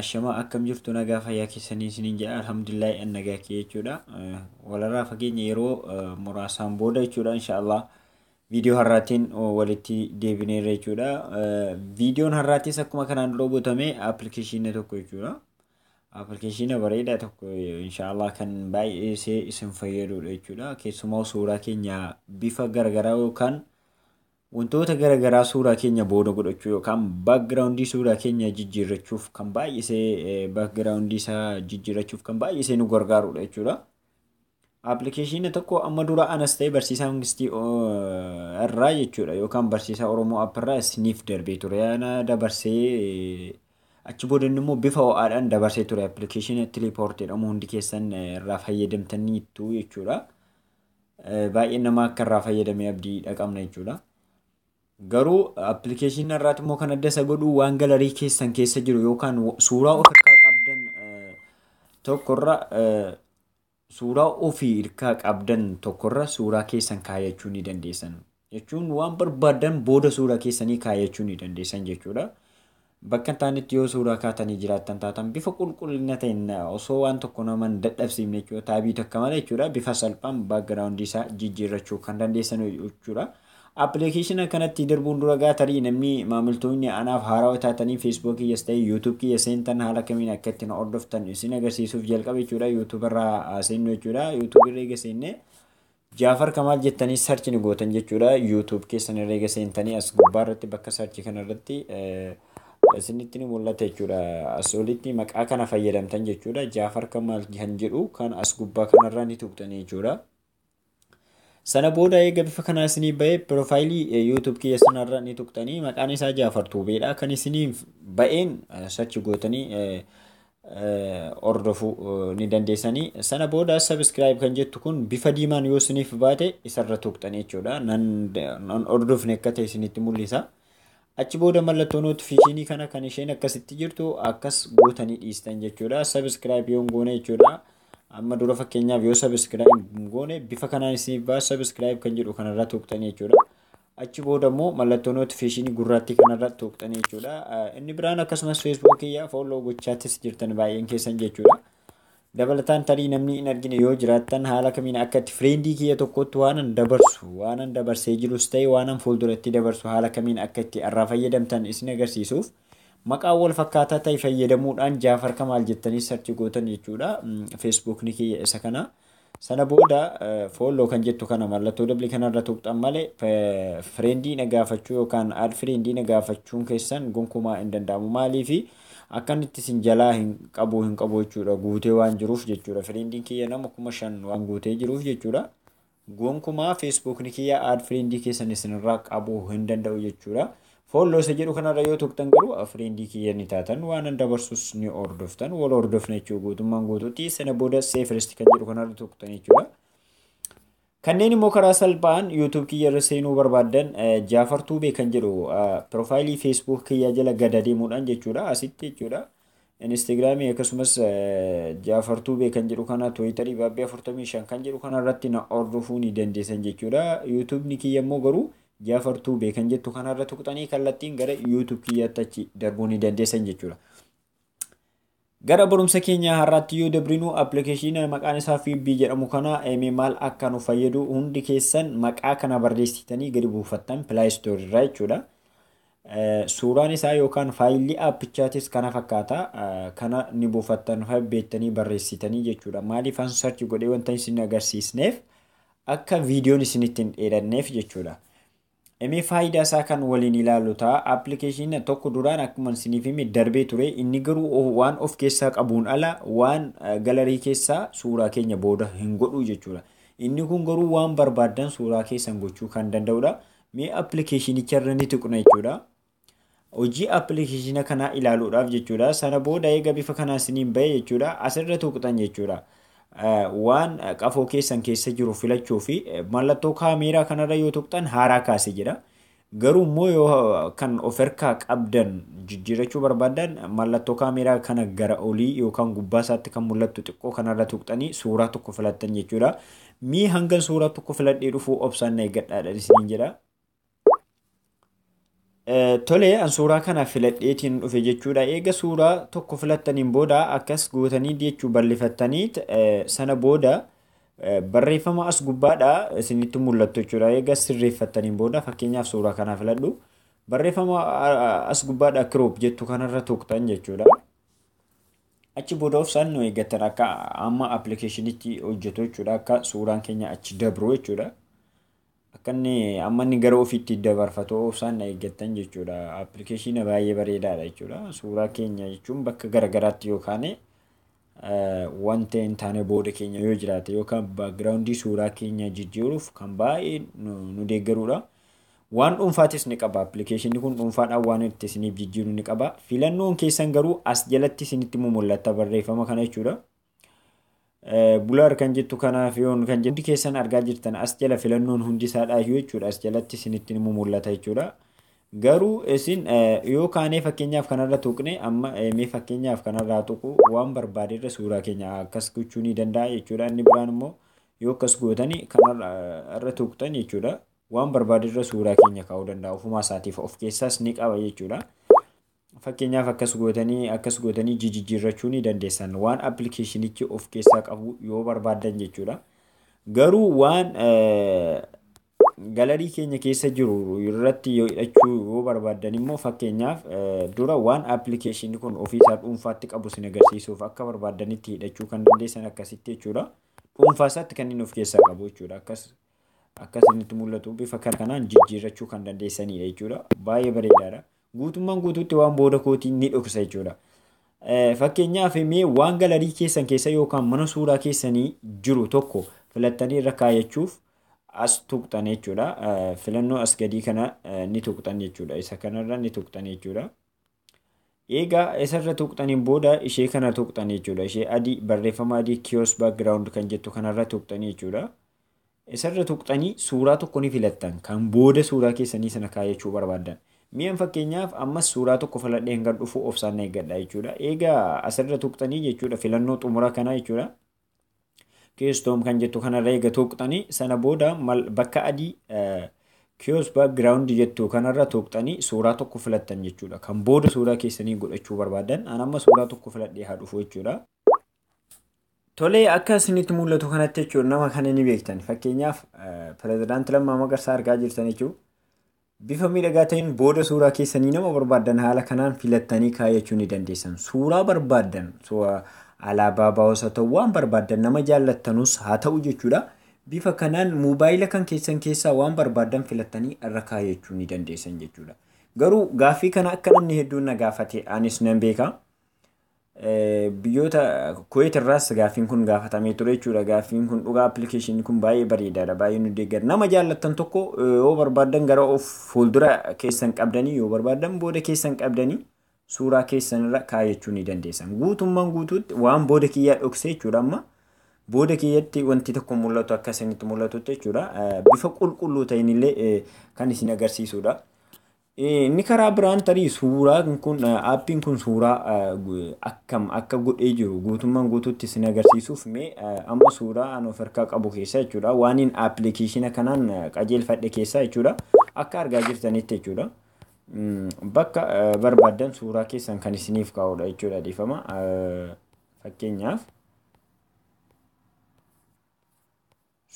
Ashamaa akkam jirtu nagaa fayyaa keessanii isiniin jedha alhamdulillahi an nagaa kee jechuudha walarraa fageenya yeroo muraasaan booda jechuudha inshaallah viidiyoo har'aatiin walitti deebineerra jechuudha viidiyoon har'aatiis akkuma kanaan dura gotame appilikeeshinii tokko jechuudha appilikeeshinii bareedaa tokko inshaallah kan baay'ee isin fayyadudha jechuudha keessumaa suuraa keenya bifa garagaraa yookaan Wantoota gara garaa suuraa keenya booda godhachuu yookaan background suuraa keenya jijjiirrachuuf kan baay'isee background isaa jijjiirrachuuf kan baay'isee nu gargaarudha jechuudha. Appilikeeshinii tokko amma dura anas ta'e barsiisaa Mangistii irraa jechuudha yookaan barsiisaa Oromoo app irraa isiniif darbee ture. Ana dabarsee achi booda immoo bifa ho'aadhaan dabarsee ture appilikeeshinii Tilipoort jedhamu hundi keessan irraa fayyadamtaniittu jechuudha. baay'een namaa akka irraa fayyadamee abdii dhaqabna jechuudha. Garuu appilikeeshinii irraatti immoo kan adda isa godhu waan galarii keessan keessa jiru yookaan suuraa of irkaa qabdan tokkorra suuraa ofii irkaa qabdan tokkorra suuraa keessan kaayachuu ni dandeessan. jechuun waan barbaaddan booda suuraa keessanii kaayachuu ni dandeessan jechuudha. Bakka hin taanetti yoo suuraa kaatanii jiraattan taatan bifa qulqullina ta'een osoo waan tokko nama hin dadhabsiifne jechuudha. Taabii takka malee jechuudha. Bifa salphaan baakgiraawundii isaa jijjiirrachuu kan dandeessan jechuudha. Appilikeeshina kanatti darbuun dura gaa tarii namni maamiltoonni anaaf haarawa taatanii Facebook kiyyas ta'e YouTube kiyya seentan haala kamiin akka ittiin hordoftan isin agarsiisuuf jalqabe jechuudha. YouTube irraa seennu jechuudha. YouTube irra eega seennee Jaafar Kamaal jettanii search ni gootan jechuudha. YouTube keessan irra eega seentanii as gubbaa irratti bakka search kana irratti isinitti ni mul'ata jechuudha. As olitti maqaa kana fayyadamtan jechuudha. Jaafar Kamaal kan jedhu kan as gubbaa kanarraa ni tuqxanii jechuudha. Sana booda eega bifa kanaa isinii ba'ee piroofaayilii YouTube kiyya sanarra ni tuqxanii maqaan isaa Jaafar Tuubeedha. Kan isiniif ba'een search gootanii hordofu ni dandeessanii sana booda subscribe kan jettu kun bifa diimaan yoo isiniif baate isarra tuqxanii jechuudha nan hordofne akka ta'e isinitti mul'isa achi booda mallattoo notifiikeeshinii kana kan isheen akkasitti jirtu akkas gootanii dhiistan jechuudha subscribe yoo goone jechuudha amma dura fakkeenyaaf yoo subscribe goone bifa kanaan isiniif ba'a subscribe kan jedhu kanarra tuqxanii jechuudha Achi booda immoo mallattoo notification gurraattii kanarra tuqxanii jechuudha. Inni biraan akkasumas Facebook kiyya follow gochaattis jirtan baay'een keessan jechuudha. Dabalataan tarii namni hin argine yoo jiraattan haala kamiin akka itti friendii kiyya tokkotti waanan dabarsu waanan dabarsee jirus ta'e waanan fuulduratti dabarsu haala kamiin akka itti irraa fayyadamtan isin agarsiisuuf maqaa wal fakkaataa ta'e fayyadamuudhaan Jaafar Kamaal jettanii sarchi gootan jechuudha. Facebook ni kiyya isa kana. Sana booda follow kan jettu kana mallattoo dabli kanarra tuqxan malee friendii na gaafachuu yookaan add friendii na gaafachuun keessan gonkumaa hin danda'amu maaliifi akkan itti isin jalaa hin qabu hin qabu jechuudha guutee waan jiruuf jechuudha friendiin kiyya nama kuma shan waan guutee jiruuf jechuudha gonkumaa feesbuukni kiyya add friendii keessan isinirraa qabuu hin danda'u jechuudha Follow isa jedhu kanarra yoo tuqxan garuu friend kiyya ni taatan, waanan dabarsus ni hordoftan, wal hordofna jechuudha guutummaan guutuutti. Sana booda see first kan jedhu kanarra tuqxan jechuudha. Kanneen immoo karaa salphaan YouTube kiyya irra seenuu barbaaddan Jaafar Tuubee kan jedhu piroofaayilii Facebook kiyya jala gad adeemuudhaan jechuudha asitti jechuudha. Instagram akkasumas Jafar Tube kan jedhu kana Twitter Baabbii 45 kan jedhu kana irratti na hordofuu ni dandeessan jechuudha. YouTube kiyya immoo garuu Jafar Tube kan jettu kana irra tuqxanii kallattiin gara YouTube kiyyaatti achi darbuu ni dandeessan jechuudha. Gara barumsa keenya har'aatti yoo dabrinu appilikeeshinii maqaan isaa Fiibbii jedhamu kana maal akka nu fayyadu hundi keessan maqaa kana barreessitanii gadi buufattan pilaayistoorii irraa jechuudha. Suuraan isaa yookaan faayilli aappichaatis kana fakkaata. Kana ni buufattan fa'aa beektanii barreessitanii jechuudha. Maaliif an sarchi godhee wanta isin agarsiisneef akka viidiyoon isinitti hin dheeranneef jechuudha. Emee faayidaa isaa kan waliin ilaalu ta'a. Appilikeeshina tokko duraan akkuma isiniif hime darbee ture. Inni garuu waan of keessaa qabuun ala waan galarii keessaa suuraa keenya booda hin godhu jechuudha. Inni kun garuu waan barbaaddan suuraa keessan gochuu kan danda'udha. Mee appilikeeshinicha irra ni tuqna jechuudha. Hojii appilikeeshina kanaa ilaaluudhaaf jechuudha. Sana booda eega bifa kanaan isiniin ba'e jechuudha. Asirra tuqxan jechuudha. Waan qafoo keessan keessa jiru filachuu fi mallattoo kaameeraa kanarra yoo tuqxan haaraa kaase jedha. Garuu immoo yoo kan of harkaa qabdan jijjiirachuu barbaadan mallattoo kaameeraa kana gara olii yookaan gubbaa isaatti kan mul'attu xiqqoo kanarra tuqxanii suuraa tokko filattan jechuudha. Mee hangan suuraa tokko filadhee dhufuu obsaan na eeggadhaadhaan isiniin jedha. Tole an suuraa kana filadheetiin dhufe jechuudha. Eega suuraa tokko filattaniin booda akkas gootanii jechuu bal'ifattanii sana booda barreeffama as gubbaadha isinitti mul'attu jechuudha. Eega sirreeffattaniin booda fakkeenyaaf suuraa kana filadhu. Barreeffama as gubbaadha kiroop jettu kanarra tuqxan jechuudha. Achi booda obsaan nu eeggattan akka amma appilikeeshinichi hojjetu jechuudha. Akka suuraan keenya achi dabru jechuudha. Akka inni amma inni gara ofiitti dabarfatu obsaan na eeggattan jechuudha. Appilikeeshina baay'ee bareedaadha jechuudha. Suuraa keenya jechuun bakka garaagaraatti yookaan wanta hin taane booda keenya yoo jiraate yookaan baakgiraawundii suuraa keenya jijjiiruuf kan baay'ee nu deeggarudha. Waan dhuunfaatis ni qaba. Appilikeeshinni kun dhuunfaadhaan waan itti isiniif jijjiiru ni qaba. Filannoon keessan garuu as jalatti isinitti mumullatta barreeffama kana jechuudha. Bulaar kan jettu kanaaf yoon kan jettu keessan argaa jirtan as jala filannoon hundi isaadhaayyuu jechuudha as jalatti isinitti ni mumullata jechuudha. Garuu isin yoo kaanee fakkeenyaaf kanarra tuqne amma mee fakkeenyaaf kanarraa tuqu waan barbaade irra suuraa keenya akkas gochuu ni danda'a jechuudha. Inni biraan immoo Yoo akkas gootani kan irra tuqxan jechuudha waan barbaade irra suuraa keenya kaa'uu danda'a ofumaa isaatiif of keessaas ni qaba jechuudha. Fakkeenyaaf akkas gootanii akkas gootanii jijijjiirrachuu ni dandeessan waan appilikeeshinichi of keessaa qabu yoo barbaaddan jechuudha. Garuu waan galarii keenya keessa jiru irratti yoo hidhachuu yoo barbaaddan immoo fakkeenyaaf dura waan appilikeeshinni kun ofiisaa dhuunfaatti qabu sin agarsiisuuf akka barbaaddanitti hidhachuu kan dandeessan akkasitti jechuudha. dhuunfaa isaatti kan inni of keessaa qabu jechuudha. Akkas akka isinitti mul'atu bifa kan kanaan jijjiirrachuu kan dandeessanidha jechuudha. Baay'ee bareedaadha. Guutummaan guutuutti waan booda kootii ni dhoksa jechuudha. Fakkeenyaaf mee waan galarii keessan keessa yookaan mana suuraa keessanii jiru tokko filattanii irra kaayachuuf as tuqxan jechuudha. Filannoo as gadii kana ni tuqxan jechuudha. Isa kanarra ni tuqxan jechuudha. Eegaa isarra tuqxaniin booda ishee kana tuqxan jechuudha. Ishee adii barreeffama adii kiosk background kan jettu kanarra tuqxanii jechuudha. Isarra tuqxanii suuraa tokko ni filattan kan booda suuraa keessanii sana kaayachuu barbaaddan. Mi'an fakkeenyaaf ammas suuraa tokko filadhee hangan dhufu obsaan na eeggadha jechuudha. Eegaa asirra tuqxanii jechuudha filannoo xumura kana jechuudha. Keystone kan jettu kanarra eega tuuqxanii sana booda bakka adii kiosk background jettu kanarra tuuqxanii suuraa tokko filattan jechuudha. Kan booda suuraa keessanii godhachuu barbaadan an amma suuraa tokko filadhee haa dhufu jechuudha. Tolee akka isinitti mul'atu kanatti jechuudha nama kana ni beektan fakkeenyaaf pirezidaanti Lammaa Magarsaa argaa jirtan jechuudha. Bifa miidhagaa ta'een booda suuraa keessanii nama barbaaddan haala kanaan filattanii kaayachuu ni dandeessan. Suuraa barbaaddan alaabaa baa'os haa ta'u waan barbaaddan nama jaallattanus haa ta'u jechuudha. Bifa kanaan moobaayila kan keessan keessaa waan barbaaddan filattanii irra kaayachuu ni dandeessan jechuudha. Garuu gaaffii kana akka namni hedduun na gaafate anis nan beeka. Biyyoota Kuweet irraas gaaffiin kun gaafatamee ture jechuudha. Gaaffiin kun dhugaa appilikeeshinii kun baay'ee bareedaadha. Baay'ee nu deeggara. Nama jaallattan tokko yoo barbaaddan gara of fuuldura keessan qabdanii yoo barbaaddan booda keessan qabdanii suuraa keessan irra kaayachuu ni dandeessan. Guutummaan guutuutti waan booda kiyyaa dhoksee jechuudha amma. Booda kiyyatti wanti tokko mul'atu akka isinitti mul'atutti jechuudha. Bifa qulqulluu ta'inillee kan isin agarsiisudha. Inni karaa biraan tarii suuraa kun aappiin kun suuraa akkam akka godhee jiru guutummaan guutuutti isin agarsiisuuf mee amma suuraa an of harkaa qabu keessaa jechuudha waaniin aappilikeeshina kanaan qajeelfadhe keessaa jechuudha akka argaa jirtanitti jechuudha. Bakka barbaadan suuraa keessan kan isiniif kaa'udha jechuudha dhiifama fakkeenyaaf.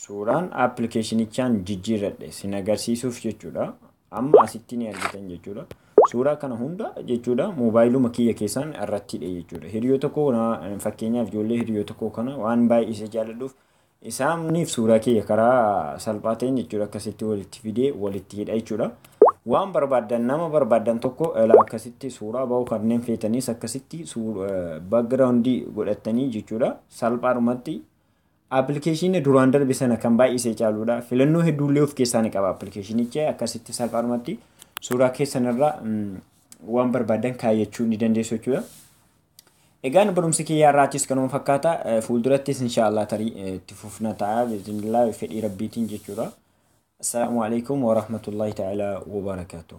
Suuraan appilikeeshinichaan jijjiirradhe sin agarsiisuuf jechuudha. Amma asitti ni argitan jechuudha. Suuraa kana hunda jechuudha moobaayiluma kiyya keessaan irratti hidhe jechuudha. Hiriyoota koo fakkeenyaaf ijoollee hiriyoota koo kana waan baay'ee isa jaalladhuuf isaaniif suuraa kiyya karaa salphaa ta'een jechuudha akkasitti walitti fidee walitti hidha jechuudha. Waan barbaaddan nama barbaaddan tokko ilaa akkasitti suuraa ba'uu kanneen feetanis akkasitti background godhattanii jechuudha salphaadhumatti Appilikeeshiinni duraan darbe sana kan baay'isee caaluudha. Filannoo hedduullee of keessaa ni qaba appilikeeshiinichi akkasitti salphaadhumatti suuraa keessan irraa waan barbaadan kaayyachuu ni dandeessu jechuudha. Egaan barumsi kiyyaa irraattis kanuma fakkaata fuuldurattis inshaallah tarii itti fufna ta'a bismillah fedhii rabbiitiin jechuudha. Assalaamu alaikum warahmatullahi ta'ala wabarakaatuh.